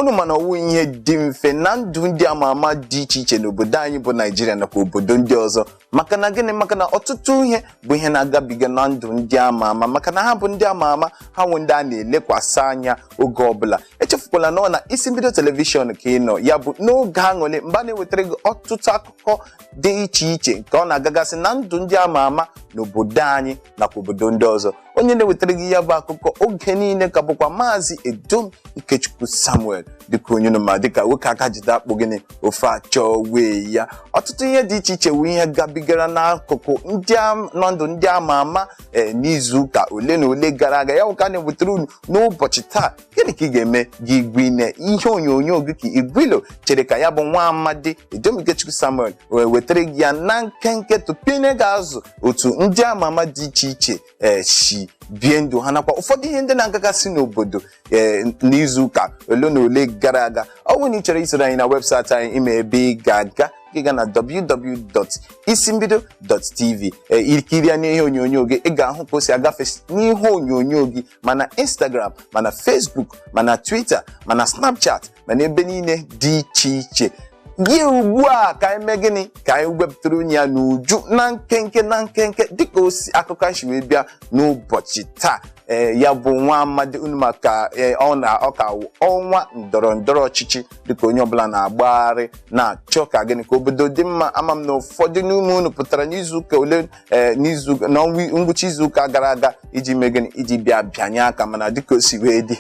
unu ma na ọ wụ ihe dị mfe na ndụ ndị ama ama dị iche iche n'obodo anyị bụ naijiria nakwa obodo ndị ọzọ maka na gịnị maka na ọtụtụ ihe bụ ihe na-agabiga na ndụ ndị ama ama maka na ha bụ ndị ama ama ha wụ ndị a na-elekwasị anya oge ọbụla echefukwala na ọ na isi mbido telivishọn ka ị nọ ya bụ n'oge aṅụrị mgbe a na-ewetara gị ọtụtụ akụkọ dị iche iche nke ọ na-agagasị na ndụ ndị ama ama n'obodo anyị nakwa obodo ndị ọzọ onye na-ewetara gị ya bụ akụkọ oge niile ka bụkwa maazị edom ikechukwu samuel dịka unu ma dịka nwoke aka jide akpụ gịnị ofe achọwe ya ọtụtụ ihe dị iche iche wụ ihe gabigara n'akụkụ ndị am- na ndụ ndị ama ama ee n'izu ụka ole na ole gara aga yanwa ka a na-ewetara unu n'ụbọchị taa gịnị ka ị ga-eme gị gwine ihe onyonyo gị ka igwilo chere ka ya bụ nwa amadi edom ikechukwu samuel wee wetara gị ya na nkenke tụpine ga-azụ otu ndị ama ama dị iche iche ee si bie ndụ ha nakwa ụfọdụ ihe ndị na-agagasị n'obodo ee n'izu ụka ole na ole gara aga ọ bụrụ na ị chọrọ isoro anyị na webụsaịtị anyị ị ma ebe ị ga-aga gị ga na www.isimbido.tv ee i kirie anya n'ihe onyonyo gị ị ga-ahụ ka o si agafe n'ihe onyonyo gị ma na Instagram ma na Facebook ma na Twitter ma na Snapchat ma na ebe niile dị iche iche gị ugbu a ka anyị mee gịnị ka anyị wepụtara unu ya n'uju na nkenke na nkenke dịka o si akụkọ anyị si wee bịa n'ụbọchị taa ee ya bụ nwa amadi unu ma ka ee, ọ na ọ ka wụ ọnwa ndọrọ ndọrọ ọchịchị dịka onye ọbụla na-agbagharị na-achọ ka gịnị ka obodo dị mma ama m na ụfọdụ n'ime unu pụtara n'izu ụka ole ee n'izu n'ọnwa ngwụcha izu ụka gara aga iji mee gịnị iji bịa bịanye aka mana dịka o si wee dị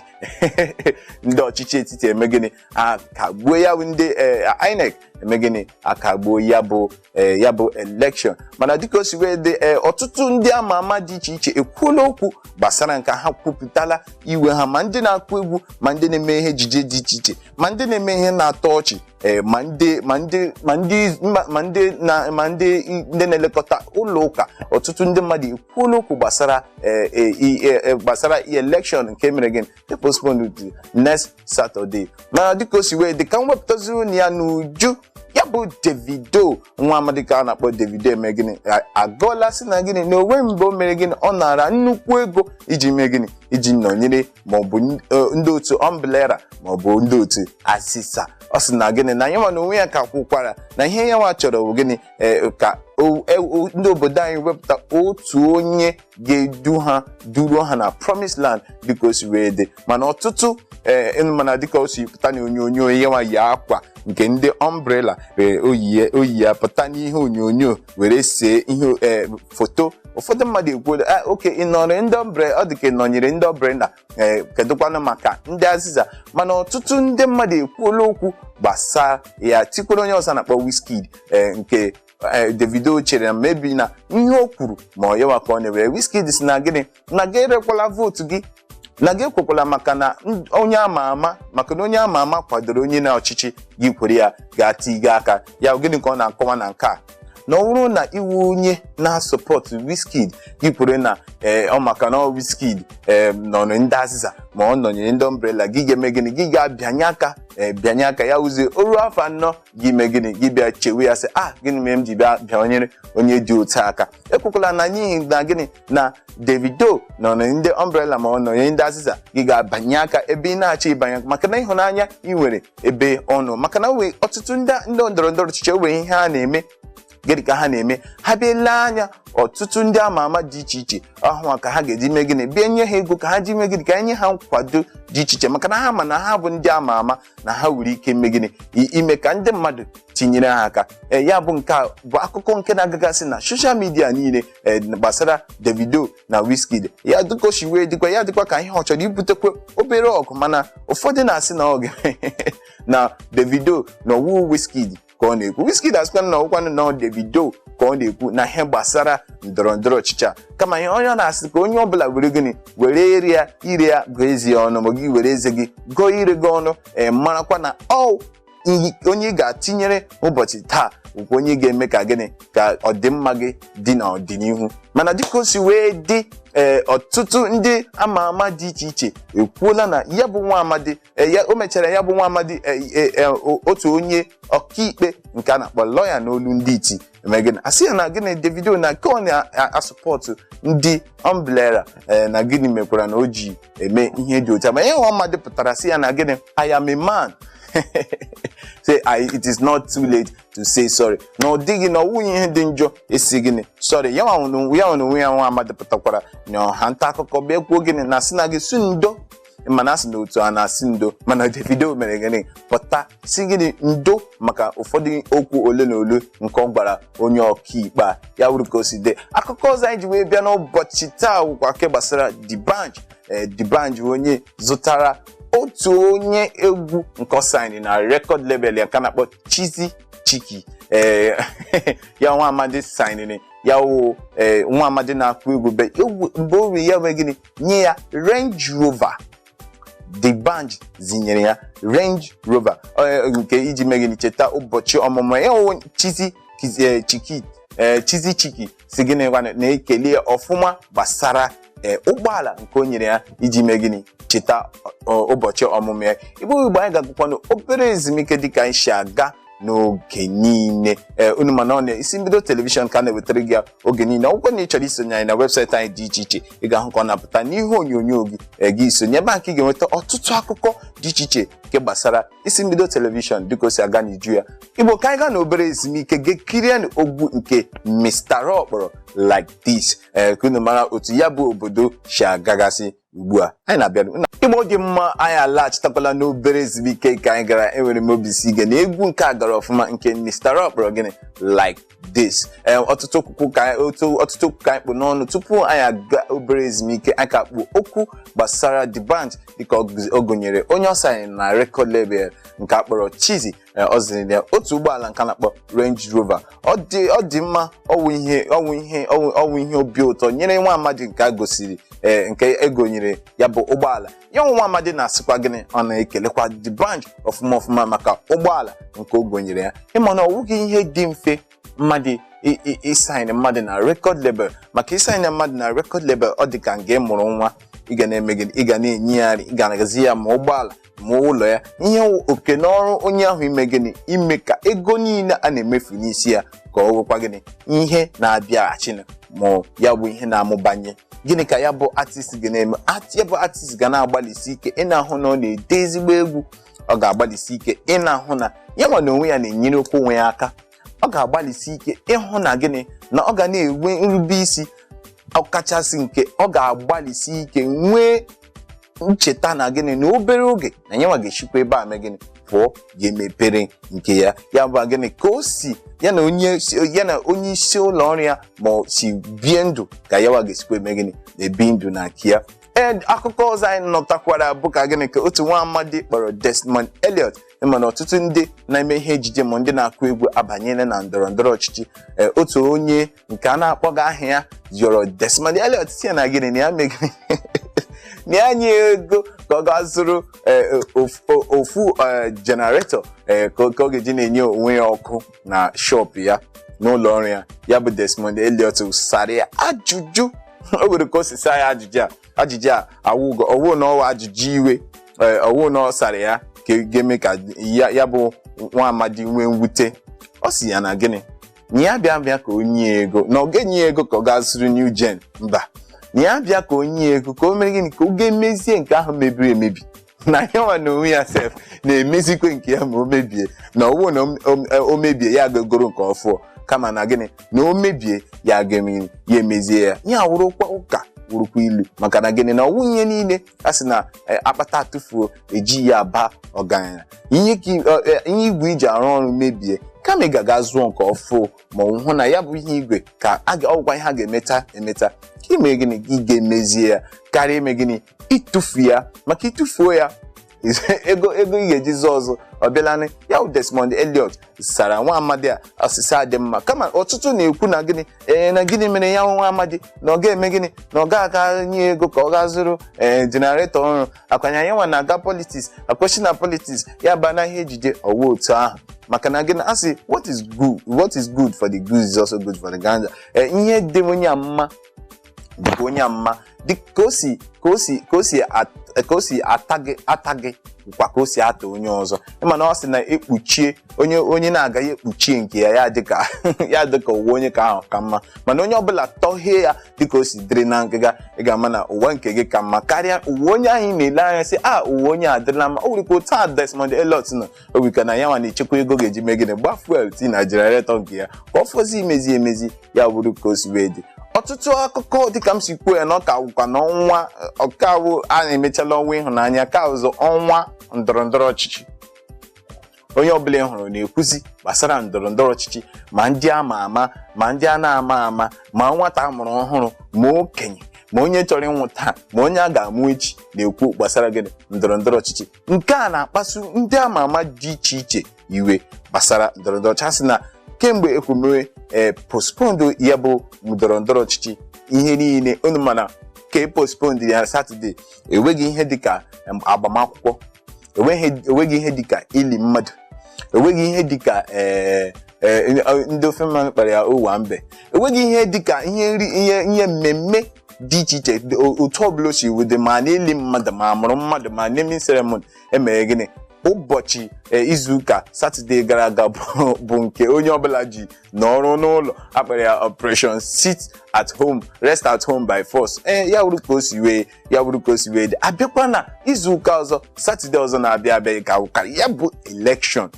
ndị ọchịchị etiti eme gịnị akagbuo ya bụ ndị ee, INEC eme gịnị akagbuo ya bụ ee, ya bụ elekshọn mana dịka o si wee dị ee, ọtụtụ ndị ama ama dị iche iche ekwuola okwu gbasara nke a ha kwupụtala iwe ha ma ndị na-akụ egwu ma ndị na-eme ihe ejije dị iche iche ma ndị na-eme ihe na-atọ ọchị ee ma ndị ma ndị ma ndị ma- ma ndị na ma ndị i- ndị na-elekọta ụlọ ụka ọtụtụ ndị mmadụ ekwuola okwu gbasara ee, ee, i- e- e- gbasara elekshọn nke mere gịnị postpone to next Saturday mana dịka o si wee dị ka m wepụtazi unu ya n'uju ya bụ Davido nwa amadi ka a na-akpọ Davido eme gịnị A- agọọla sị na gịnị na o nwe mgbe o mere gịnị ọ nara nnukwu ego iji mee gịnị iji nọnyere maọbụ n- eh, ndị otu ọmblera maọbụ ndị otu azịza ọ sị na gịnị na yanwa na onwe ya ka kwukwara na ihe yanwa chọrọ bụ gịnị eh, ka o- e- o- ndị obodo anyị wepụta otu onye ga-edu ha duruo ha na promise land dịka o si wee dị mana ọtụtụ ee ịnụ mana dịka o si pụta na onyonyo yanwa yi akwa nke ndị ọmbrela ee o yi ya- o yi ya pụta n'ihe onyonyo were see ihe ee foto ụfọdụ mmadụ ekwuola "Ah, oke ị nọrọ ndị ọmbre ọ dị ka ị nọnyere ndị umbrella ee kedụkwanụ maka ndị azịza mana ọtụtụ ndị mmadụ ekwuola okwu gbasara ya tikwere onye ọzọ a na-akpọ Wizkid ee nke ee, Davido chere na maybe na ihe o kwuru ma ọ ya nwa ka ọ na-ewere Wizkid sị na gịnị na gị erekwala vootu gị na gị ekwekwala maka na n- onye ama ama maka na onye ama ama kwadoro onye na ọchịchị gị kwere ya ga-atiga aka ya gịnị ka ọ na-akọwa na nke a na ọ bụrụ na ị wụ onye na-asọpọtụ Wizkid gị kwere na ee ọ maka na ọ Wizkid ee nọnyere ndị azịza ma ọ nọnyere ndị umbrella gị ga-eme gịnị gị ga-abịanye aka ee bịanye aka ya wụzie o ruo afọ anọ gị mee gịnị gị bịa chewe ya sị a gịnị mere m ji bịa bịanyere onye dị otu a aka ekwukwala na n'ihi na gịnị na Davido nọ na ndị umbrella ma ọ nọnye ndị azịza gị ga-abịanye aka ebe ị na-achọ ịbịanye maka na ịhụnanya ị nwere ebe ọ nọ maka na e nwere ọtụtụ ndị ndị ndọrọ ndọrọ ọchịchị e nwere ihe ha na-eme gịnị ka ha na-eme ha bịa lee anya ọtụtụ ndị ama ama dị iche iche hụ ka ha ga-eji mee gịnị bịa nye ha ego ka ha ji mee gịnị ka e nye ha nkwado dị iche iche maka na ha ma na ha bụ ndị ama ama na ha nwere ike ime gịnị I- ime ka ndị mmadụ tinyere ha aka ee ya bụ nke a bụ akụkọ nke na-agagasị na social media niile ee, gbasara Davido na Wizkid ya dịka o si wee dịkwa ya dịkwa ka ihe ọ chọrọ ibutekwa obere ọgụ mana ụfọdụ na-asị na ọ ga- na Davido na ọ wụ Wizkid ka ọ na-ekwu Wizkid asịkwa na ọ wụkwanụ na Davido ka ọ na-ekwu na ihe gbasara ndọrọ ndọrọ ọchịchị a kama ihe onye ọ na-asị ka onye ọbụla were gịnị were ire ya ire ya gụọ eze ya ọnụ ma gị were eze gị gụọ ire gị ọnụ ee marakwa na ọ iyi- onye ị ga-atinyere ụbọchị taa bụkwa onye ga-eme ka gịnị ka ọdịmma gị dị n'ọdịnihu mana dịka o si wee dị ee ọtụtụ ndị ama ama dị iche iche ekwuola na ya bụ nwa amadi Eh, ya- o mechara ya bụ nwa amadi eh, eh, eh, o- otu onye ọkaikpe nke a na-akpọ lọya n'olu ndị iti eme gịnị asị ya na gịnị Davido na nke ọ na-asụpọtụ ndị umbrella eh, na gịnị mekwara na o ji eme ihe dị otu a ma ihe nwa amadi pụtara sị ya na gịnị I am a man say I, it is not too late to say sorry na ọ dịghị na ọ wụghị ihe dị njọ ịsị gịnị sorry ya nwa onwe ya nwa onwe ya nwa amadi pụtakwara na ọha nta akụkọ bịa kwuo gịnị na a sị na gị sị ndo mana a sị na otu a na-asị ndo mana Davido mere gịnị pụta sị gịnị ndo maka ụfọdụ okwu ole na ole nke ọ gwara onye ọkaikpe a ya wụrụ ka o si dị akụkọ ọzọ anyị ji wee bịa n'ụbọchị taa wụkwa nke gbasara D'banj ee D'banj onye zụtara otu onye egwu nke ọ saịnị na record label ya ka a na-akpọ Chizzy Cheeky ee ya nwa amadi saịnịrị ya wụ ee nwa amadi na-akụ egwu be egwu mgbe o riri ya mee gịnị nye ya Range Rover D'banj zinyere ya Range Rover eh, nke iji mee gịnị cheta ụbọchị ọmụmụ ya ọwụ Chizzy Kiz- eh, Chiki eh, Chizzy Chiki sị gịnị gwanụ na-ekele ya ọfụma gbasara eh, ụgbọala nke o nyere ya iji mee gịnị cheta ọ- ụbọchị ọmụmụ ya igbo igbo anyị ga-agakwanụ obere ezumike dịka anyị si aga n'oge niile ee unu ma na ọ n'isi mbido telivishọn ka a na-ewetara gị ya oge niile ọ wụkwa na ị chọrọ isonye anyị na webụsaịtị anyị dị iche iche ị ga-ahụ ka ọ na-apụta n'ihe onyonyo gị ee, gị isonye ebe nke ị ga-enweta ọtụtụ akụkọ dị iche iche nke gbasara isi mbido telivishọn dịka o si aga n'iju ya igbo ka anyị gaa na obere ezumike gaa kirie egwu nke Mr. Raw kpọrọ like this ee ka unu mara otu ya bụ obodo si agagasị ugbu a anyị na-abịa igbo dị mma anyị alaghachitakwala n'obere ezumike nke anyị gara enwere m obi isi ike na egwu nke a gara ọfụma nke Mr. Raw kpọrọ gịnị like this Ee, ọtụtụ okwu ka anyị- otu- ọtụtụ okwu ka anyị kpụ n'ọnụ tupu anyị aga obere ezumike anyị ka kpụ okwu gbasara D'banj dịka ọ gụzi- ọ gụnyere onye ọ saịnị na record label nke a kpọrọ Chizzy ee, ọ ziri ya otu ụgbọala nke a na-akpọ Range Rover ọ dị ọ dị mma ọwụ ihe ọwụ ihe ọwụ ọwụ ihe obi ụtọ nyere nwa amadi nke a gosiri ee, nke e gonyere ya bụ ụgbọala ya wụ nwa amadi na-asịkwa gịnị ọ na-ekelekwa D'banj ọfụma ọfụma maka ụgbọala nke o gonyere ya ị ma na ọ wụghị ihe dị mfe mmadụ i- i- ịsaịnị mmadụ na rekọd lebel maka ịsaịnị mmadụ na rekọd lebel ọ dị ka nga ị mụrụ nwa ị ga na-eme gịnị ị ga na-enye ya nri ị ga na-agazi ya ma ụgbọala ma ụlọ ya ihe wụ oke na ọrụ onye ahụ ime gịnị ime ka ego niile a na-emefu n'isi ya ka ọ wụkwa gịnị ihe na-abịaghachinu ma ya bụ ihe na-amụbanye gịnị ka ya bụ artist ga na-eme Art- ya bụ artist ga na-agbalịsi ike ịna-ahụ na ọ na-ede ezigbo egwu ọ ga-agbalịsi ike ịna-ahụ na ya nwa na onwe ya na-enyerekwu onwe ya aka ọ ga-agbalịsi ike ịhụ na gịnị na ọ ga na-enwe nrube isi ọkachasị nke ọ ga-agbalịsi ike nwee ncheta na gịnị na obere oge na ya nwa ga-esikwa ebe a mee gịnị pụọ gaa mepere nke ya ya bụ gịnị ka o si ya na onye ya na onye isi ụlọ ọrụ ya ma o si bie ndụ ka ya nwa ga-esikwa eme gịnị na-ebi ndụ na nke ya ee akụkọ ọzọ anyị nụtakwara bụ ka gịnị ka otu nwa amadi kpọrọ Desmond Elliot ị ma na ọtụtụ ndị na-eme ihe ejije ma ndị na-akụ egwu abanyela na ndọrọ ndọrọ ọchịchị ee otu onye nke a na-akpọghị aha ya yọrọ Desmond Elliot sị ya na gịnị na ya mee gịnị na ya nye ego ka ọ gaa zụrụ ee, of- o- ofu ee, generator ee, ka ọ ka ọ ga-eji na-enye onwe ya ọkụ na shop ya n'ụlọ ọrụ ya ya bụ Desmond Elliot sara ya ajụjụ o nwere ka o si saa ya ajụjụ a ajụjụ a awụghị ọwụ na ọwụ ajụjụ iwe ee, ọwụ na ọ sara ya ka ga-eme ka ya ya bụ nwa amadi nwee mwute ọ si ya na gịnị na ya bịa bịa ka o nye ya ego na ọ ga-enye ya ego ka ọ gaa zụrụ new gen mba na ya bịa ka o nye ya ego ka o mere gịnị ka ọ gaa mezie nke ahụ mebiri emebi na ya nwa na onwe ya sef na-emezikwa nke ya ma o mebie na ọwụ na o- o- o mebie ya ga-egoro nke ọfụụ kama na gịnị na o mebie ya ga-eme- ya emezie ya ya wụrụkwa ụka wụrụkwa ilu maka na gịnị na ọwụ ihe niile a sị na eh, akpata atụfuo eji ya aba ọgaranya ihe ka i- ọ- eh, ihe igwe iji arụ ọrụ mebie kama ị ga-aga zụọ nke ọfụụ ma ọwụ na ya bụ ihe igwe ka a ga- ọwụkwa ihe a ga-emeta emeta ka i mee gịnị ka ị gaa mezie ya karịa ime gịnị ịtụfu ya maka ịtụfuo ya ego ego ị ga-eji zụọ ọzọ ọ bịalanị ya bụ Desmond Elliot sara nwa amadi a ọsịsa a dị mma kama ọtụtụ na-ekwu na gịnị ee na gịnị mere ya nwa amadi na ọ ga-eme gịnị na ọ ga-aga nye ego ka ọ gaa zụrụ ee jenaretọ ọhụrụ ọkwa na ya nwa na-aga politiks akwechi na politiks ya baa na ihe ejije ọwụ otu ahụ maka na gịnị a sị what is good what is good for the goose is also good for the gander ee ihe dị onye a mma dịkwa onye a mma dị ka o si ka o si ka o si at- ka o si ata gị ata gị kwa ka o si ata onye ọzọ ịma na ọ sị na ekpuchie onye onye na-agaghị ekpuchie nke ya ya dịka ya dịka ụwa onye nke ahụ ka mma mana onye ọbụla tọhee ya dịka o si dịrị na ngịga ị ga-ama na ụwa nke gị ka mma karịa ụwa onye ahụ ị na-ele anya sị a ụwa onye a dịrịla mma o nwere ike otu a Desmond Elliot nọ o nwere ike na yanwa na-echekwa ego ọ ga-eji mee gịnị gba fuel tii na jenaretọ nke ya ka ọ fọzi imezi emezi ya bụrụ ka o si wee dị ọtụtụ akụkọ dịka m si kwuo ya na ọ ka wụkwa na ọnwa ọkawụ a na-emechala ọnwa ịhụnanya ka ọwụzi ọnwa ndọrọ ndọrọ ọchịchị onye ọbụla ị hụrụ na-ekwuzi gbasara ndọrọ ndọrọ ọchịchị ma ndị a ma ama ma ndị a na-ama ama ma nwata a mụrụ ọhụrụ ma okenye ma onye chọrọ ịnwụ taa ma onye a ga-amụ echi na-ekwu gbasara gịnị ndọrọ ndọrọ ọchịchị nke a na-akpasu ndị ama ama dị iche iche iwe gbasara ndọrọndọrọ ọchịchị sị na kemgbe ekwemewe ee postpondo ya bụ ndọrọndọrọ ọchịchị ihe niile unu ma na ka e postpondo ya satọde enweghị ihe dịka em, agbamakwụkwọ enweghị enweghị ihe dịka ili mmadụ enweghị ihe dịka ee ee, ndị ofe mmanụ kpọrọ ya owambe enweghị ihe dịka ihe nri ihe ihe mmemme dị iche iche dị- o- otu ọbụla o si wee dị ma n'ili mmadụ ma amụrụ mmadụ ma naming ceremony emere gịnị ụbọchị eh, izu ụka satọde gara aga bụ bụ nke onye ọbụla ji nọrọ n'ụlọ akpọrọ ya operation sit at home rest at home by force ee ya wụrụ ka o si wee ya wụrụ ka o si wee dị abịakwa na izu ụka ọzọ satọde ọzọ na-abịa abịa ka ụka ya bụ election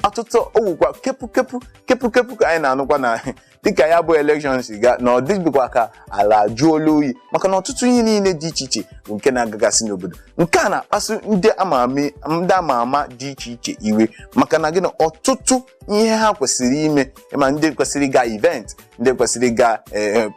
ọtụtụ ọ wụkwa kepu kepu kepu kepu ka anyị na-anụkwa na dịka ya bụ election si gaa na ọ dịbụkwa ka ala ajụọla oyi maka na ọtụtụ ihe niile dị iche iche bụ nke na-agagasị n'obodo nke a na-akpasu ndị ama ama ndị ama ama dị iche iche iwe maka na gịnị ọtụtụ ihe ha kwesịrị ime ma ndị kwesịrị ịga event ndị kwesịrị ịga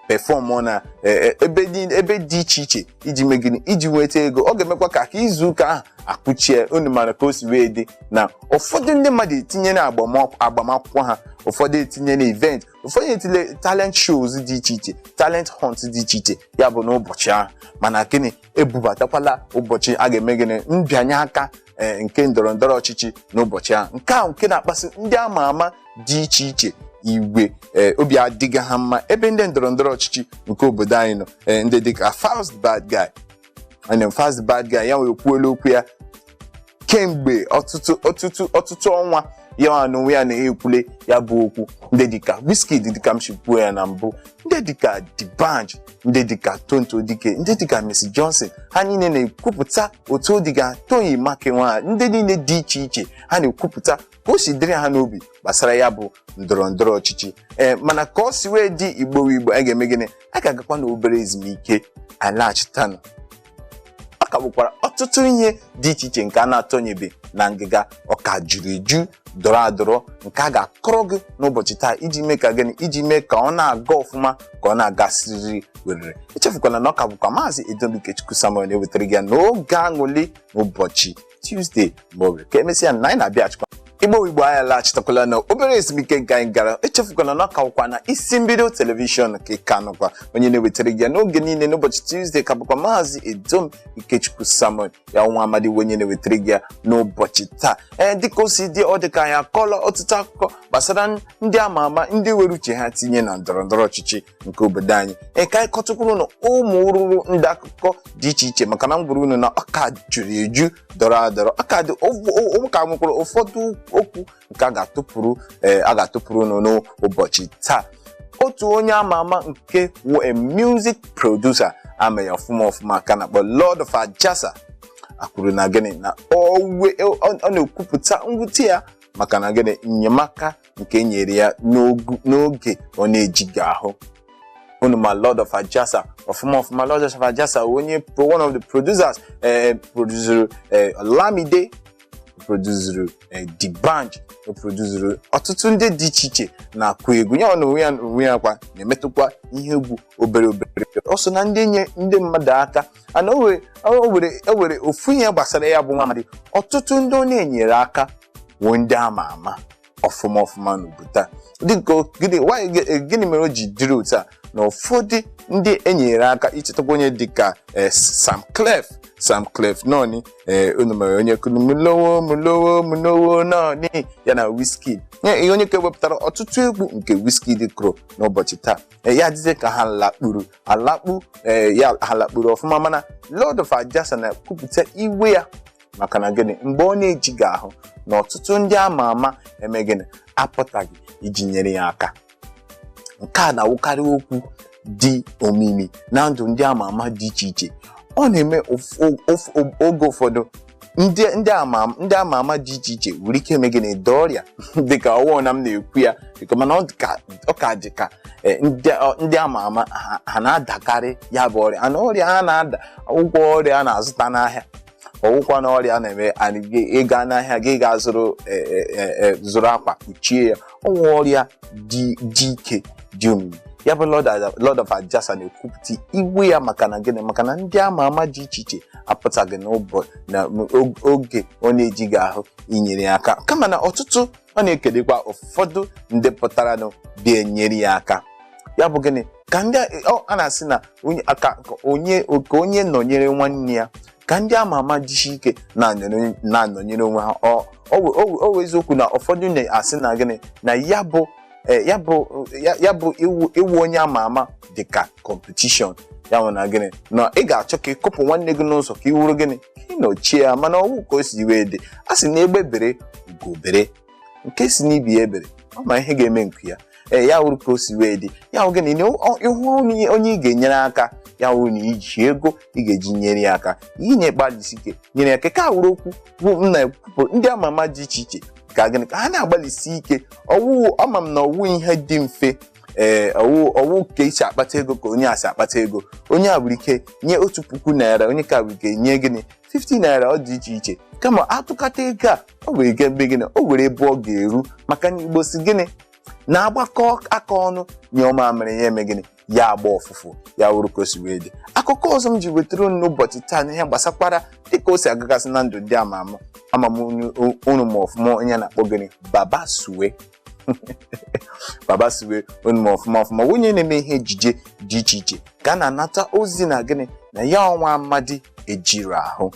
perform na eh, eh, ebe dị- ebe dị iche iche iji mee gịnị iji nweta ego ọ ga-emekwa ka ka izu ụka ahụ akụchie unu mara ka o si wee dị na ụfọdụ ndị mmadụ etinyela agbam- agbamakwụkwọ ha ụfọdụ etinyela event ụfọdụ etinye talent shows dị iche iche talent hunt dị iche iche ya bụ n'ụbọchị ahụ mana gịnị ebubatakwala ụbọchị a ga-eme gịnị mbịanye aka ee nke ndọrọ ndọrọ ọchịchị n'ụbọchị ahụ nke ahụ nke na-akpasu ndị ama ama dị iche iche iwe ee obi adịghị ha mma ebe ndị ndọrọ ndọrọ ọchịchị nke obodo anyị nọ ee ndị dịka Falz bad guy and then Falz bad guy ya nwa ekwuola okwu ya kemgbe ọtụtụ ọtụtụ ọtụtụ ọnwa ya nwa n'onwe ya na-ekwule ya bụ okwu ndị dịka Wizkid dịka m si kwuo ya na mbụ ndị dịka D'banj ndị dịka Tonto Dikeh ndị dịka Mercy Johnson ha niile na-ekwupụta otu ọ dịga Toyin Makinwa ndị niile dị iche iche ha na-ekwupụta ka o si dịrị ha n'obi gbasara ya bụ ndọrọ ndọrọ ọchịchị ee mana ka o si wee dị igbo igbo a ga-eme gịnị a ga-agakwa na obere ezumike alaghachitanụ ọ ka bụkwara ọtụtụ ihe dị iche iche nke a na-atọnyebe na ngịga ọ ka juru eju dọrọ adọrọ nke a ga-akọrọ gị n'ụbọchị taa iji mee ka gịnị iji mee ka ọ na-aga ọfụma ka ọ na-aga siriri werere echefukwala na ọ ka bụkwa maazị Edom Ikechukwu Samuel na-ewetara gị ya n'oge aṅụlị n'ụbọchị Tuesday mgbe oge ka emesịa na anyị na-abịachikwa igbo igbo anyị alaghachitakwala na obere ezumike nke anyị gara echefukwana na ọ ka wụkwa na Isi Mbido telivishọn ka ị ka nọkwa onye na-ewetara gị ya n'oge niile n'ụbọchị Tuesday ka bụkwa maazị Edom Ikechukwu Samuel ya nwa amadi bụ onye na-ewetara gị ya n'ụbọchị taa ee dịka o si dị ọ dịka anyị akọọla ọtụtụ akụkọ gbasara ndị ama ama ndị were uche ha tinye na ndọrọ ndọrọ ọchịchị nke obodo anyị ee ka anyị kọtụkwuru unu ụmụ ụrụrụ ndị akụkọ dị iche iche maka na m gwara unu na ọ ka juru eju dọrọ adọrọ ọ ka dị ọ ka nwekwara ụfọdụ okwu nke a ga-atụpụrụ ee a ga-atụpụrụ unu n'ụbọchị taa otu onye ama ama nke wụ a music producer a ma ya ọfụma ọfụma ka a na-akpọ Lord of Ajasa ekwuru na gịnị na ọ na-ekwupụta mwute ya maka na gịnị enyemaka nke nyere ya n'ogu- n'oge ọ na-ejighị ahụ unu ma lord of ajasa ọfụma ọfụma lord of ajasa onye pro- one of the producers eh, produzuru eh, olamide produzuru eh, d'banj o produzuru ọtụtụ ndị dị iche iche na-akụ egwu ya na onwe ya onwe ya kwa na-emetụkwa ihe egwu obere obere ọ so na ndị nye ndị mmadụ aka and o were o were o were ofu ihe gbasara ya bụ nwamadị ọtụtụ ndị ọ na-enyere aka bụ ndị ama ama ọfụma ọfụma n'obodo a dịka o- gịnị why- gị- gịnị mere o ji dịrị otu a na ụfọdụ ndị e nyere aka i chetakwa onye dịka eh, Samklef Samklef noni ee unu maara onye kụrụ Molowo Molowo Molowo Noni ya na Wizkid Nye- ihe onye ka wepụtara ọtụtụ egwu nke Wizkid kụrụ n'ụbọchị taa ee, ya dịzie ka ha lakpuru alakpu ee, ya ha lakpuru ọfụma mana Lord of Ajasa na-ekwupụta iwe ya maka na gịnị mgbe ọ na-ejighị ahụ na ọtụtụ ndị ama ama eme gịnị apụtaghị iji nyere ya aka nke a na-awụkarị okwu dị omimi na ndụ ndị ama ama dị iche iche ọ na-eme ụf- ụf- ụf- oge ụfọdụ ndị ndị ama ndị ama ama dị iche iche nwere ike ime gịnị daa ọrịa dịka ọ wụghị na m na-ekwu ya dịka mana ọ ka ọ ka dị ka eh, ndị ọ- ndị ama ama ha- ha na-adakarị ya bụ ọrịa and ọrịa ha na-ada awụghị ọrịa a na-azụta n'ahịa ọ wụkwa na ọrịa na-eme anyị gị- ị gaa n'ahịa gị ga-azụrụ eh, eh, eh, eh, zụrụ akwa kpuchie ya ọ wụ ọrịa dị dị ike dị omimi ya bụ Lord Ada- Lord of Ajasa na-ekwupụta iwe ya maka na gịnị maka na ndị ama ama dị iche iche apụtaghị n'ụbọchị na og- oge ọ na-ejighị ahụ inyere ya aka kama na ọtụtụ ọ na-ekelekwa ụfọdụ ndị pụtaranụ bịa enyere ya aka ya bụ gịnị ka ndị a- ọ- a na-asị na onye- ka ka onye ka onye nọnyere nwanne ya ka ndị ama ama jisie ike na-anọnyere na-anọnyere onwe ha ọ ọ wụ- ọ wụ- ọ wụ eziokwu na ụfọdụ na-asị na gịnị na ya bụ eh, ya bụ ya- ya bụ ịwụ ịwụ onye ama ama dị ka competition ya wụ na gịnị na ị ga-achọ ka ị kụpụ nwanne gị n'ụzọ ka ị wụrụ gịnị ka ị nọchie ya mana ọ wụghị ka o si wee dị a sị na egbe bere ugo bere nke sị n'ibe ya ebere ọ ma ihe ga-eme nke ya ee ya wụrụ ka o si wee dị ya wụ gịnị na ọ- ị hụ onye onye ị ga-enyere aka ya wụrụ na i ji ego ị ga-eji nyere ya aka inye gbalịsi ike nyere ya aka ka a wụrụ okwu bụ m na-ekwupụ ndị ama ama dị iche iche ka gịnị ka ha na-agbalịsi ike ọwụwụ ama m na ọ wụghị ihe dị mfe ee ọ wụ ọ wụghị ka i si akpata ego ka onye a si akpata ego onye a nwere ike nye otu puku naira onye ka nwere ike nye gịnị 50 naira ọ dị iche iche kama a tụkọta ego a o were ike ime gịnị o were ebe ọ ga-eru maka na igbo sị gịnị na a gbakọọ aka ọnụ nyụọ mamịrị ya eme gịnị ya agba ọfụfụ ya wụrụ ka o si wee dị akụkọ ọzọ m ji wetara unu n'ụbọchị taa na ihe gbasakwara dịka o si agagasị na ndụ ndị ama ama ama m unu ma ọfụma onye a na-akpọ gịnị baba suwe baba suwe unu ma ọfụma ọfụma onye na-eme ihe ejije dị iche iche ka a na-anata ozi na gịnị na ya nwa amadi ejirọ ahụ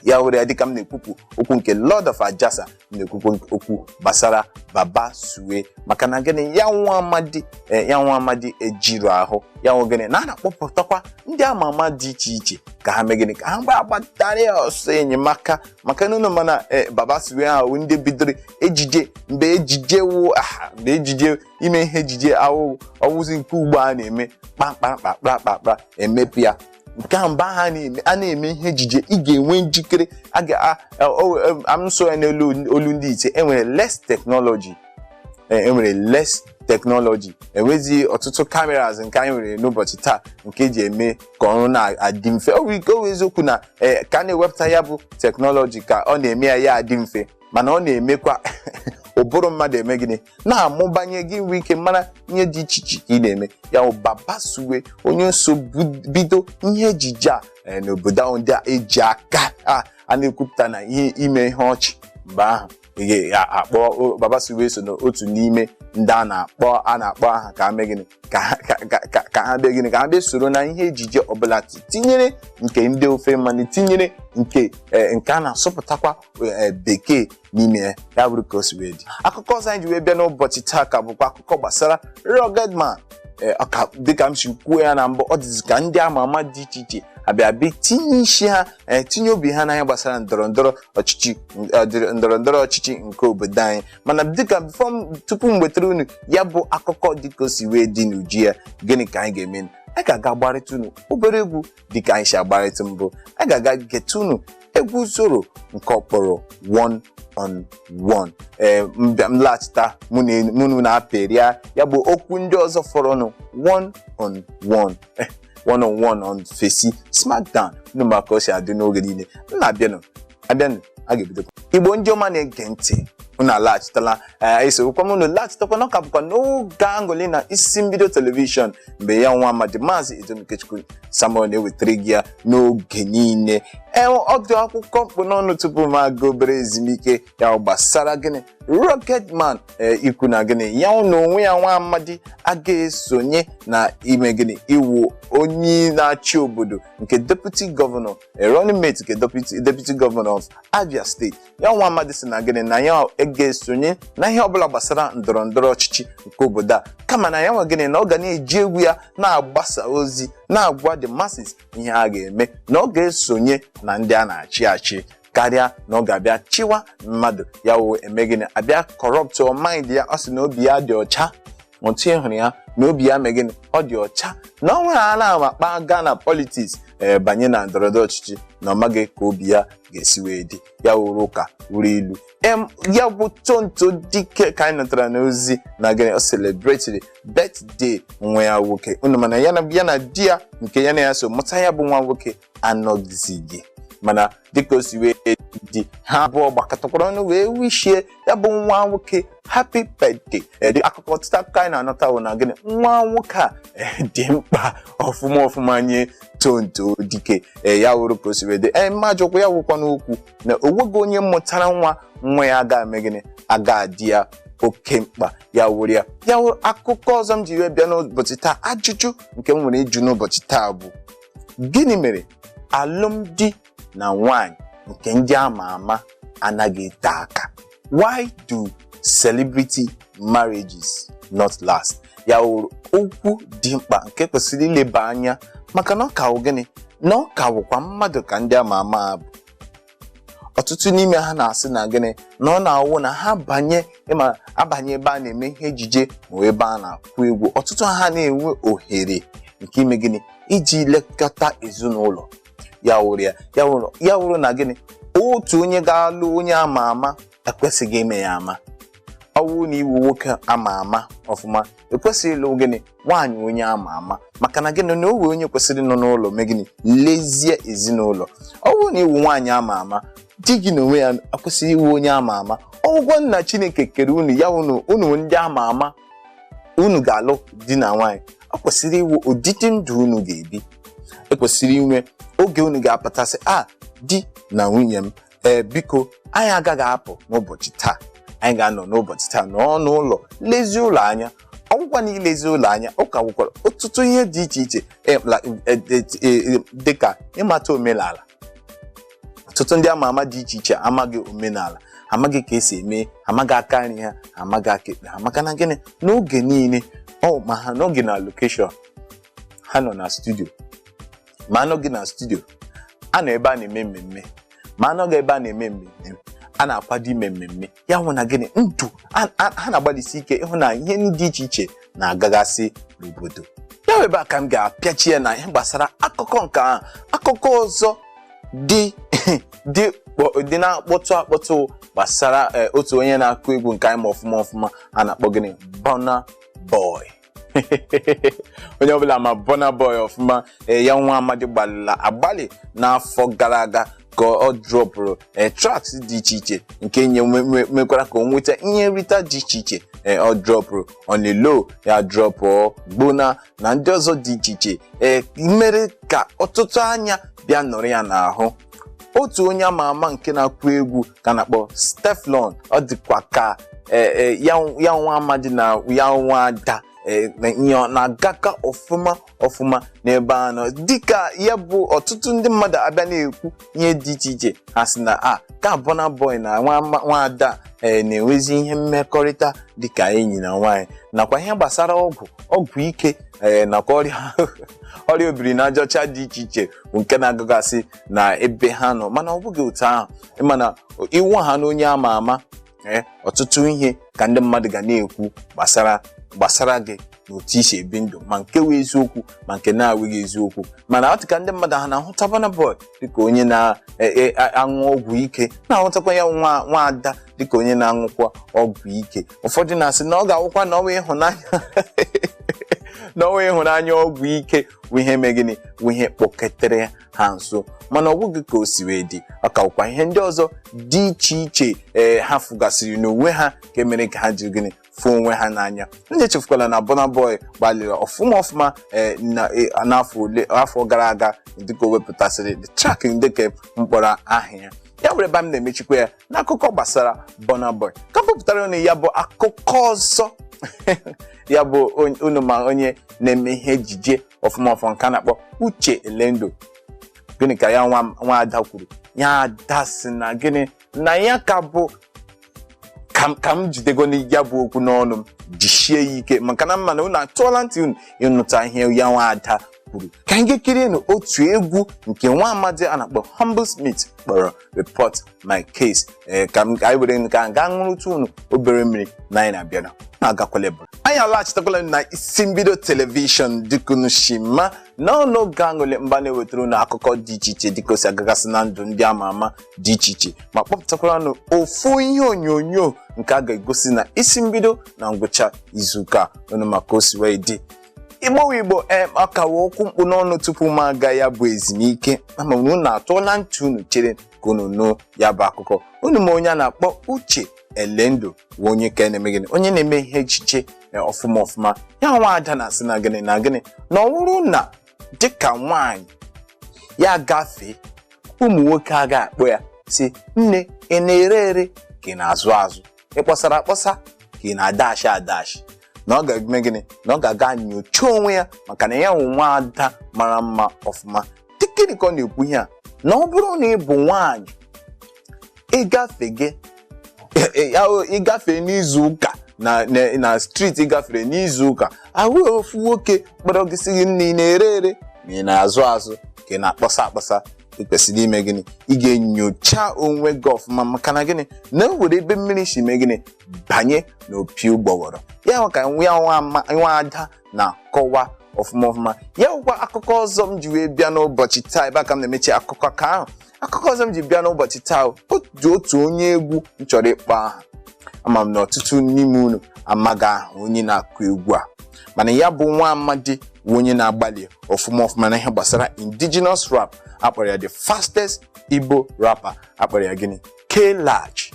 ya were ya dịka m na-ekwupụ okwu nke Lord of Ajasa m na-ekwupụ okwu gbasara baba suwe maka na gịnị ya nwa amadi eh, ya nwa amadi ejirọ ahụ ya nwa gịnị na a na-akpọpụtakwa ndị ama ama dị iche iche ka ha mee gịnị ka ha gba- gbatara ya ọsọ enyemaka maka na unu ma na eh, baba suwe ha wụ ndị bidoro ejije mgbe ejije wụ aha mgbe ejije ime ihe ejije awụ ọ wụzi nke ugbu a na-eme kpakpakpakpakpakpa emepe ya nke a mgbe ahụ a na-eme a na-eme ihe ejije ị ga-enwe njikere a ga a- a- o- em, am so ya n'elu olu ndị ite enwere less technology e nwere less technology enwezi ọtụtụ cameras nke anyị nwere n'ụbọchị taa nke e ji eme ka ọrụ na-adị mfe ọ wụ eziokwu na ee ka a na-ewepụta ya bụ teknọlọji ka ọ na-eme ya ya adị mfe mana ọ na-emekwa ụbụrụ mmadụ eme gịnị na-amụbanye gị nwee ike mara ihe dị iche iche ka ị na-eme ya bụ baba suwe onye so bu- bido ihe ejije a eh, n'obodo ahụ ndị a eji aka a a na-ekwupụta na ihe ime ihe ọchị mgbe ahụ ị ga-akpọ baba suwe so n'otu n'ime ndị a na-akpọ a na-akpọ aha ka a mee gịnị ka ha- ka- ka- ka- ka ha bịa gịnị ka ha bịa soro na ihe ejije ọbụla ti- tinyere nke ndị ofe mmanụ tinyere nke eh, nke a na-asụpụtakwa eh, bekee n'ime ya ya bụrụ ka o si wee dị akụkọ ọzọ anyị ji wee bịa n'ụbọchị taa ka bụkwa akụkọ gbasara rugged man ee ọ ka dịka m si kwuo ya na mbụ ọ dịzi ka ndị ama ama dị iche iche abịa bịa tinye isi ha ee tinye obi ha n'anya gbasara ndọrọ ndọrọ ọchịchị ọ dịrị ndọrọ ndọrọ ọchịchị nke obodo anyị mana dịka before m tupu m wetara unu ya bụ akụkọ dịka o si wee dị n'uju ya gịnị ka anyị ga-eme anyị ga-aga gbarịta unu obere egwu dịka anyị si agbarịta mbụ anyị ga-aga geta unu egwu Zoro nke ọ kpọrọ one on one ee mbịa m laghachita mụ na enyi- mụ na apịrịa ya bụ okwu ndị ọzọ fọrọnụ one on one one on one on fesi smackdown unu ma ka o si adị n'oge niile m na-abịanụ abịanụ a ga-ebidokwa igbo ndị ọma na-ege ntị unu alaghachitala ee esorokwa m unu laghachitakwa na ọ ka bụkwa n'oge aṅụlị na isi mbido telivishọn mgbe ya nwa amadi maazị edem ikechukwu samuel na-ewetara gị ya n'oge niile ee ọdụ akụkọ m kpụ n'ọnụ tupu m aga obere ezumike ya ọ gbasara gịnị rugged man ee ikwu na gịnị ya n'onwe ya nwa amadi aga esonye na ime gịnị ịwụ onye na-achị obodo nke deputi gọvanọ a running mate nke deputy deputy governor of Abia State ya nwa amadi si na gịnị na ya aga esonye na ihe ọbụla gbasara ndọrọ ndọrọ ọchịchị nke obodo a kama na ya nwa gịnị na ọ ga na-eji egwu ya na-agbasa ozi na-agwa the masses ihe a ga-eme na ọ ga-esonye na ndị a na-achị achị karịa na ọ ga-abịa chịwa mmadụ ya wee eme gịnị abịa corruptuọ mind ya ọ sị na obi ya dị ọcha otu ị hụrụ ya na obi ya megịnị ọ dị ọcha na ọ nwere a na-ama kpaa gaa na politics ee banye na ndọrọndọrọ ọchịchị na ọ maghị ka obi ya ga-esi wee dị ya wụrụ ụka wụrụ ilu em ya bụ Tonto Dikeh ka anyị nụtara n'ozi na gịnị ọ celebratiri birthday nwa ya nwoke unu ma na ya na ya na di ya nke ya na ya so mụta ya bụ nwa nwoke anọghịzi mana dịka o si wee dị ha abụọ gbakọtakwara ọnụ wee wishie ya bụ nwa nwoke happy birthday dị akụkọ ọtụtụ akụkọ anyị na-anụta wụ na gịnị nwa nwoke a dị mkpa ọfụma ọfụma nye Tonto Dikeh ee ya wụrụ ka o si wee dị ee mma jụkwa ya wụkwa n'okwu na o nweghị onye mụtara nwa nwa ya aga eme gịnị aga adị ya oke mkpa ya wụrụ ya ya wụrụ akụkọ ọzọ m ji wee bịa n'ụbọchị taa ajụjụ nke m nwere ịjụ n'ụbọchị taa bụ Gịnị mere alụmdi na nwanyị nke ndị a ma ama anaghị ete aka? Why do celebrity marriages not last? Ya wụrụ okwu dị mkpa nke kwesịrị ileba anya maka na ọ ka wụ gịnị? Na ọ ka wụkwa mmadụ ka ndị a ma ama bụ. ọtụtụ n'ime ha na-asị na gịnị na ọ na-awụ na ha banye ịma abanye ebe a na-eme ihe ejije ma ebe a na-akụ egwu ọtụtụ ha na-enwe ohere nke ime gịnị iji lekọta ezinụlọ ya wụrụ ya ya wụrụ ya wụrụ na gịnị otu onye ga-alụ onye ama ama ekwesịghị ime ya ama ọ bụrụ na ị wụ nwoke ama ama ọfụma i kwesịghị ịlụ gịnị nwaanyị onye ama ama maka na gịnị na o nwe onye kwesịrị ịnọ n'ụlọ mee gịnị lezie ezinụlọ ọ bụrụ na ị wụ nwaanyị ama ama di gị n'onwe ya ekwesịghị ịwụ onye ama ama ọ wụkwa na Chineke kere unu ya unu unu ndị ama ama unu ga-alụ di na nwaanyị ọ kwesịrị ịwụ ụdịdị ndụ unu ga-ebi e kwesịrị inwe oge unu ga-apụta sị a ah, di na nwunye m ee biko anyị agaghị apụ n'ụbọchị taa anyị ga-anọ n'ụbọchị taa nọọ n'ụlọ lezie ụlọ anya ọ wụkwa na ilezi ụlọ anya ọ ka nwekwara ọtụtụ ihe dị iche iche eh, la- eh, eh, eh, dịka ịmata omenala ọtụtụ ndị ama ama dị iche iche amaghị omenala amaghị ka e si eme amaghị aka nri ha amaghị aka ekpe ha maka na gịnị n'oge niile ma ha nọghị na location ha nọ na studio ma anọghị na studio a nọ ebe a na-eme mmemme ma anọghị ebe a na-eme mmemme a na-akwado ime mmemme ya wụ na gịnị ndị a- a- ha na-agbalịsi ike ịhụ na ihe ndị dị iche iche na-agagasị n'obodo ya wụ ebe a ka m ga-apịachi ya na ihe gbasara akụkọ nke ahụ akụkọ ọzọ dị dị kpọ- dị na-akpọtụ akpọtụ gbasara eh, otu onye na-akụ egwu nke anyị ma ọfụma ọfụma a na-akpọ gịnị Burna Boy onye ọbụla ma Burna Boy ọfụma ee, ya nwa amadi gbalịla agbalị n'afọ gara aga ka ọ dropụrụ ee, tracks dị iche iche nke nye nwe- nwe- mekwara ka o nweta ihe nrita dị iche iche ee, ọ dropụrụ On The Low ya dropụọ Gbona na ndị ọzọ dị iche iche ee, mere ka ọtụtụ anya bịa nọrọ ya n'ahụ otu onye ama ama nke na-akụ egwu ka a na-akpọ Stefflon ọ dịkwa ka eh, eh, ya ya nwa amadi na ya nwa ada eh, na ihe ọ na-agaka ọfụma ọfụma n'ebe ha nọ dịka ya bụ ọtụtụ ndị mmadụ abịa na-ekwu ihe dị iche iche ha sị na a ka Burna Boy na nwa ama- nwa ada ee na-enwezi ihe mmekọrịta dịka enyi na nwaanyị nakwa ihe gbasara ọgwụ ọgwụ ike ee nakwa ọrịa ọrịa obiri n'aja ọcha dị iche iche bụ nke na-agagasị na ebe ha nọ mana ọ bụghị otu ahụ ị ma na ị wụhana onye ama ama ee ọtụtụ ihe ka ndị mmadụ ga na-ekwu gbasara gbasara gị na otu i si ebi ndụ ma nke wụ eziokwu ma nke na-awụghị eziokwu mana ọ dị ka ndị mmadụ ha na-ahụta Burna Boy dịka onye na-aṅụ ọgwụ ike na-ahụtakwa ya nwa nwa ada dịka onye na-aṅụkwa ọgwụ ike ụfọdụ na-asị na ọ ga-awụkwa na ọnwa ịhụnanya na ọnwa ịhụnanya ọgwụ ike bụ ihe mee gịnị bụ ihe kpọketere ha nso mana ọ bụghị ka o si wee dị ọ ka bụkwa ihe ndị ọzọ dị iche iche ee ha fụgasịrị n'onwe ha nke mere ka ha jiri gịnị fụ onwe ha n'anya gị echefukwala na Burna Boy gbalịrị ọfụma ọfụma ee na- e- n'afọ ole afọ gara aga dịka o wepụtasịrị the track dịka m kpọrọ aha ya ya were ebe a m na-emechikwa ya n'akụkọ gbasara Burna Boy ka m bupụtara unu ya bụ akụkọ ọzọ ya bụ unu ma onye na-eme ihe ejije ọfụma ọfụma nke a na-akpọ Uche Elendu gịnị ka ya nwa ada kwuru ya ada sị na gịnị na ya ka bụ ka m jidego ya bụ okwu n'ọnụ m jisie ya ike maka na m ma na unu atọọla ntị unu ịnụta ihe ya nwa ada kwuru ka anyị gaa kirie nụ otu egwu nke nwa amadi a na-akpọ Humblesmith kpọrọ Report My Case ee ka m ka anyị were nke a gaa ṅụrụtụ unu obere mmiri na anyị na-abịara unu agakwala ebe anyị alaghachitakwala na Isi Mbido telivishọn dịka unu shi ma n'ọnụ oge aṅụle mba na-ewetara unu akụkọ dị iche iche dịka o si agagasị na ndụ ndị ama ama dị iche iche ma kpọpụtakwara unu ofu ihe onyonyo nke a ga-egosi na Isi Mbido na ngwụcha izuụka unu ma ka o si wee dị igbo wụ igbo ee a kawa okwu mkpu n'ọnụ tupu m aga ya bụ ezumike ama m na unu atụọla ntị unu chere ka unu nụ ya bụ akụkọ unu ma onye a na-akpọ uche elendu bụ onye ka na-eme gịnị onye na-eme ihe echiche ee, ọfụma ọfụma ya nwa ada na-asị na gịnị na gịnị na ọ bụrụ na dịka nwaanyị ya gafee ụmụ nwoke a ga-akpọ ya sị nne ị na-ere ere ka ị na-azụ azụ ị kpọsara akpọsa ka ị na-adashi adashi na ọ ga-eme gịnị na ọ ga-aga nyocha onwe ya maka na ya wụ nwa ada mara mma ọfụma dịkịrị ka ọ na-ekwu ihe a na ọ bụrụ na ị bụ nwaanyị ị gafee gị gafee n'izu ụka na na- na street ị gafere n'izu ụka ahụ ofu nwoke kpọrọ gị sị gị nne ị na-ere ere ma ị na-azụ azụ ka ị na-akpọsa akpọsa ị kwesịrị ime gịnị ị ga-enyocha onwe gị ọfụma maka na gịnị na enwere ebe mmiri si mee gịnị banye n'opi ụgbọghọrọ ya wụ ka nwa ya nwa ama- nwa ada na-akọwa ọfụma ọfụma ya wụkwa akụkọ ọzọ m ji wee bịa n'ụbọchị taa ebe a ka m na-emechi akụkọ ka ahụ akụkọ ọzọ m ji bịa n'ụbọchị taa o dị otu onye egwu m chọrọ ịkpọ aha ama m na ọtụtụ n'ime unu amaghị aha onye na-akụ egwu a mana ya bụ nwa amadi bụ onye na-agbalị ọfụma ọfụma na ihe gbasara indigenous rap akpọrọ ya the fastest igbo rapper akpọrọ ya gịnị k large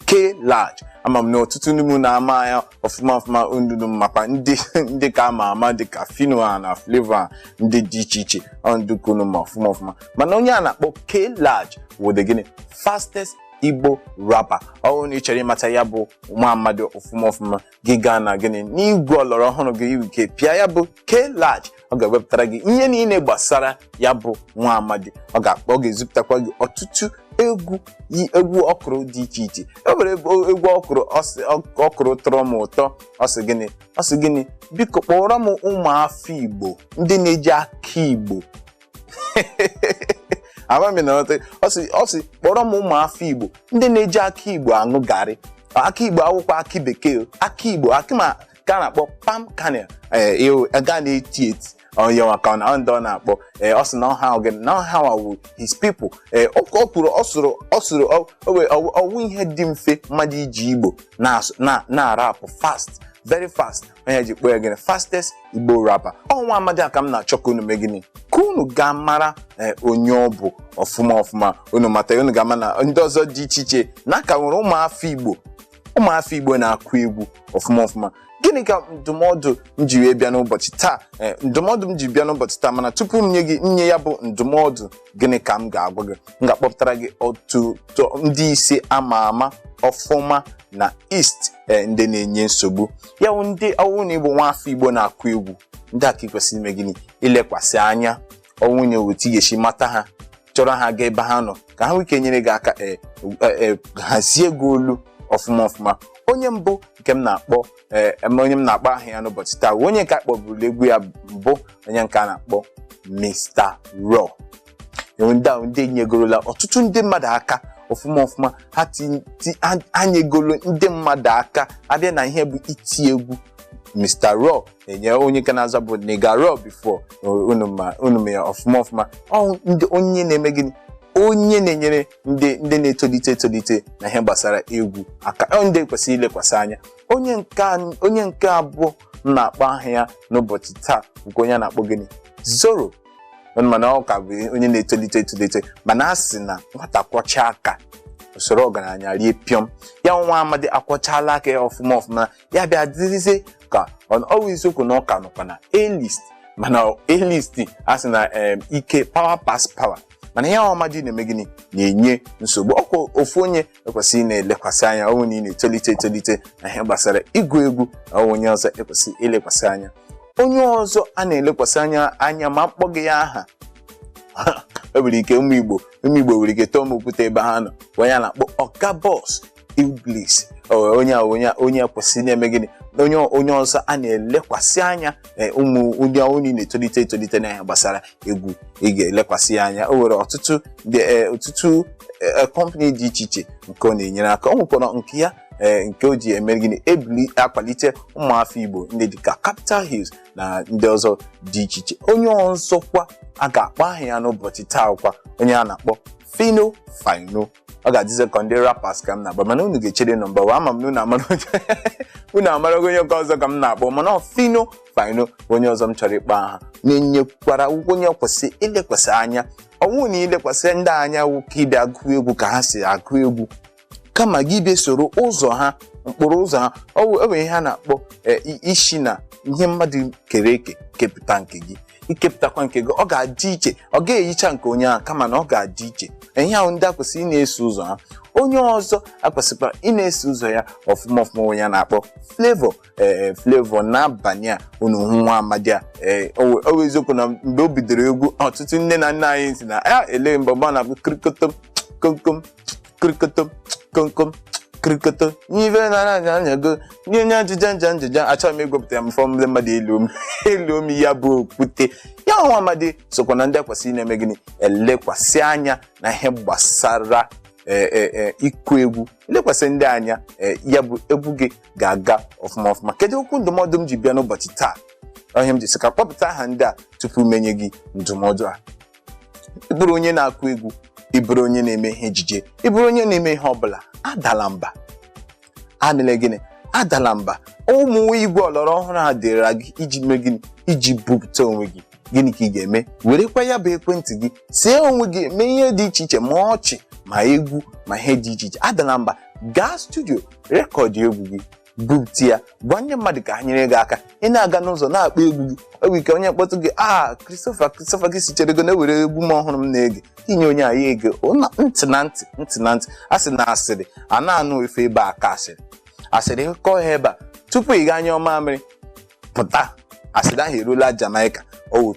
k large ama m na ọtụtụ n'ime unu ama ya ọfụma ọfụma ndị unu makwa ndị ndị ka ama ama dị ka phyno na flavour ndị dị iche iche ọ ndị ka unu ma ọfụma ọfụma mana onye a na-akpọ k large wụ the gịnị fastest igbo rapper ọ wụrụ na ị chọrọ ịmata ya bụ nwa amadi ọfụma ọfụma gị gaa na gịnị n'igwe ọlọrọ ọhụrụ gị i nwee ike pịa ya bụ k large ọ ga-ewepụtara gị ihe niile gbasara ya bụ nwa amadi ọ ga-akpọ ọ ga-ezipụtakwa gị ọtụtụ egwu ya egwu ọ kụrụ dị iche iche e nwere egwu egwu ọ kụrụ ọ sị ọ- ọ kụrụ tọrọ m ụtọ ọ sị gịnị ọ sị gịnị biko kpọrọ m ụmụ afọ igbo ndị na-eji akị igbo ama m na ọtị ọ sị ọ sị kpọrọ m ụmụ afọ igbo ndị na-eji akị igbo aṅụ garị akị igbo awụkwa akị bekee o, akị igbo akị nke a na-akpọ palm kernel nke a na-eti eti onye maka ọ na ndị ọ na-akpọ ee, ọ sị na ọha ahụ gị na ọha ahụ wụ his people ee, ọ ọ kwuru ọ sụrụ ọ sụrụ ọ- o wee- ọ- ọ wụ ihe dị mfe mmadụ iji igbo na-asụ- na- na-arapụ fast very fast ọ ihe e ji kpọọ ya gịnị fastest igbo rapper ọ nwa amadi a ka m na-achọ ka unu mee gịnị ka unu gaa mara ee, onye ọ bụ ọfụma ọfụma unu mata ya, unu ga-ama na ndị ọzọ dị iche iche na a ka nwere ụmụafọ igbo ụmụafọ igbo na-akụ egwu ọfụma ọfụma gịnị ka ndụmọdụ m ji wee bịa n'ụbọchị taa Ee, ndụmọdụ m ji bịa n'ụbọchị taa mana tupu m nye gị nye ya bụ ndụmọdụ gịnị ka m ga-agwa gị m ga-akpọpụtara gị otu tọ- ndị ise ama ama ọfụma na east eh, ndị na-enye nsogbu ya wụ ndị ọ wụ na ị bụ nwa afọ igbo na-akụ egwu ndị a ka ị kwesịrị ime gịnị ilekwasị anya ọ wụ na otu ị ga-esi mata ha chọrọ ha gaa ebe ha nọ ka ha nwee ike nyere gị aka eh, eh, eh, hazie gị olu ọfụma ọfụma onye mbụ nke m na-akpọ ee eme onye m na-akpọ aha ya n'ụbọchị taa bụ onye nke a kpọburu egwu ya mbụ onye nke a na-akpọ Mr. Raw enwe ndị ahụ ndị nyegorola ọtụtụ ndị mmadụ aka ọfụma ọfụma ha ti- ti- ha- ha nyegoro ndị mmadụ aka a bịa na ihe bụ iti egwu Mr. Raw enye onye ka na-azabu Nigga Raw before unu ma unu ma ya ọfụma ọfụma ọ wụ onye na-eme gịnị onye na-enyere ndị ndị na-etolite etolite na ihe gbasara egwu aka ọ ndị kwesịrị ilekwasị anya onye nke an- onye nke abụọ m na-akpọ aha ya n'ụbọchị taa nke onye a na-akpọ gịnị Zoro mana ọ ka bụ onye na-etolite etolite mana a sị na nwata kwọcha aka o soro ọgaranya rie pịọm ya nwa amadi akwọchala aka ya ọfụma ọfụma ya bịa dịrịzie ka ọ ọ bụ eziokwu na ọ ka nọkwa na A-list mana A-list a sị na em, ike power pass power mana ya nwa amadi na-eme gịnị na-enye nsogbu ọkwa ofu onye e kwesị ị na-elekwasị anya ọ wụ na ị na-etolite etolite na ihe gbasara ịgụ egwu wụ onye ọzọ e kwesị ilekwasị anya onye ọzọ a na-elekwasị anya anya ma m kpọghị ya aha e nwere ike ụmụ igbo ụmụ igbo nwere ike tụọ m okwute ebe ha nọ wụ onye a na-akpọ Ọga Boss Illbliss onye a onye a onye a kwesịrị na-eme gịnị na onye onye ọzọ a na-elekwasị anya eh, ụmụ ụdị ọ wụrụ ị na-etolite etolite na ihe gbasara egwu ị ga-elekwasị ya anya o nwere ọtụtụ dị eh, ọtụtụ eh, kọmpani dị iche iche nke ọ na-enyere aka ọ nwekwara nke ya eh, nke o ji eme gịnị ebuli akwalite ụmụafọ Igbo ndị dịka Capital Hills na ndị ọzọ dị iche iche onye ọzọkwa a ga-akpọ aha ya n'ụbọchị taa wụkwa onye a na-akpọ Phyno Phyno ọ ga-adịzi ka ndị rappers ka m na-akpọ mana unu ga-echere nọmba wan ama m na unu amara onye- unu amarago onye nke ọzọ ka m na-akpọ mana ọ Phyno Phyno bụ onye ọzọ m chọrọ ịkpọ aha na-enyekwara ọ wụkwa onye kwesị ilekwasị anya ọ wụ na ilekwasị ndị a anya wụ ka ị bịa gụọ egwu ka ha si agụ egwu kama gị bịa soro ụzọ ha mkpụrụ ụzọ ha ọ wụ- e nwere ihe a na-akpọ eh, i- isi na ihe mmadụ kere eke kepụta nke gị ikepụtakwa nke gị ọ ga-adị iche ọ ga-eyicha nke onye ahụ kama na ọ ga-adị iche ya wụ ndị a kwesịrị ị na-eso ụzọ ha onye ọzọ a kwesịkwara ị na-eso ụzọ ya ọfụma ọfụma onye a na-akpọ Flavour ee Flavour N'abania unu hụ nwa amadi a ee ọ wụ eziokwu na mgbe o bidoro egwu ọtụtụ nne na nna anyị sị na ya eleghị mgbe mgbe ọ na-abụ kirikotom komkom krikoto komkom krikoto n'ife nara anya anya go ndị onye ajịja nja njija achọghị m ịgwepụta ya mfọ ndị mmadụ elu m elu m ya bụ okwute ya nwa amadi sokwa na ndị akwesịrị na-eme gịnị elekwasị anya na ihe gbasara eh, eh, eh, ịkụ egwu lekwasị ndị a anya eh, ya bụ egwu gị ga-aga ọfụma ọfụma kedu okwu ndụmọdụ m ji bịa n'ụbọchị taa ihe m ji sị ka kpọpụta aha ndị a tupu m enye gị ndụmọdụ a ị bụrụ onye na-akụ egwu ị bụrụ onye na-eme ihe ejije ị bụrụ onye na-eme ihe ọbụla adala mba emela gịnị adala mba ụmụ igwe ọlọrọ ọhụrụ a dịra gị iji mee gịnị iji bupụta onwe gị gịnị ka ị ga-eme werekwa ya bụ ekwentị gị see onwe gị mee ihe dị iche iche ma ọchị ma egwu ma ihe dị iche iche adala mba gaa studio rekọdụ egwu gị bupụta ya gwa ndị mmadụ ka ha nyere gị aka ị na-aga n'ụzọ na-akpọ egwu gị oge ike onye kpọtụ gị a Christopher Christopher gị sị chere go na e nwere egwu m ọhụrụ m na-ege i nye onye a ya ege ọ na- ntị na ntị ntị na ntị a sị na asịrị a na-anụ ife ebe a ka asịrị asịrị kọọ ha ebe a tupu ị gaa nyụọ mamịrị pụta asịrị ahụ erula Jamaica ọ wụ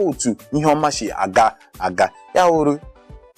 otu ihe ọma si aga aga ya wụrụ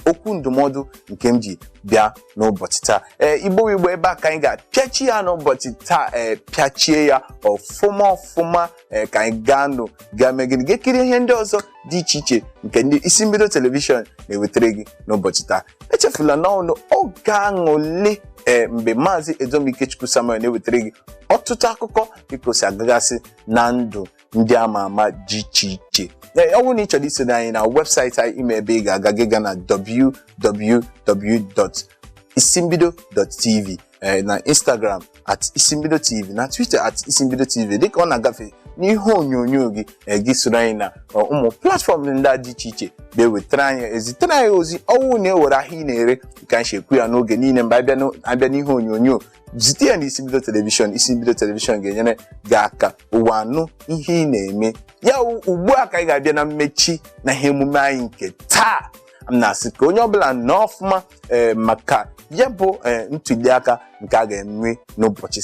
okwu ndụmọdụ nke m ji bịa n'ụbọchị taa ee igbo igbo ebe a ka anyị ga-apịachi ya n'ụbọchị taa ee pịachie ya ọfụma ọfụma ee ka anyị gaa nụ gaa mee gịnị gaa kiri ihe ndị ọzọ dị iche iche nke ndị isi mbido telivishọn na-ewetara gị n'ụbọchị taa echefula na ọ wụ n'oge aṅụlị ee mgbe maazị Edom Ikechukwu Samuel na-ewetara gị ọtụtụ akụkọ dịka o si agagasị na ndụ ndị ama ama dị iche iche Ee, ọ bụrụ na ị chọrọ isoro anyị na webụsaịtị anyị ị ma ebe ị ga-aga gị gaa na www.isimbido.tv eh, na instagram at isimbido tv na twitter at isimbido tv dịka ọ na-agafe n'ihe onyonyo gị eh, gị soro anyị na ọ, ụmụ platfọm ndị a dị iche iche ga-ewetara anyị ezitere anyị ozi ọ wụ na e nwere ahịa ị na-ere ka anyị si ekwu ya n'oge niile mgbe abịa n'o- abịa n'ihe onyonyo zite ya na isimbido telivishọn isimbido telivishọn ga-enyere gị aka ụwa anụ ihe ị na-eme ya wụ ugbu a ka anyị ga-abịa na mmechi na ihe emume anyị nke taa m na-asị ka onye ọbụla nọ ọfụma ee maka ya bụ ee ntuliaka nke a ga-enwe n'ụbọchị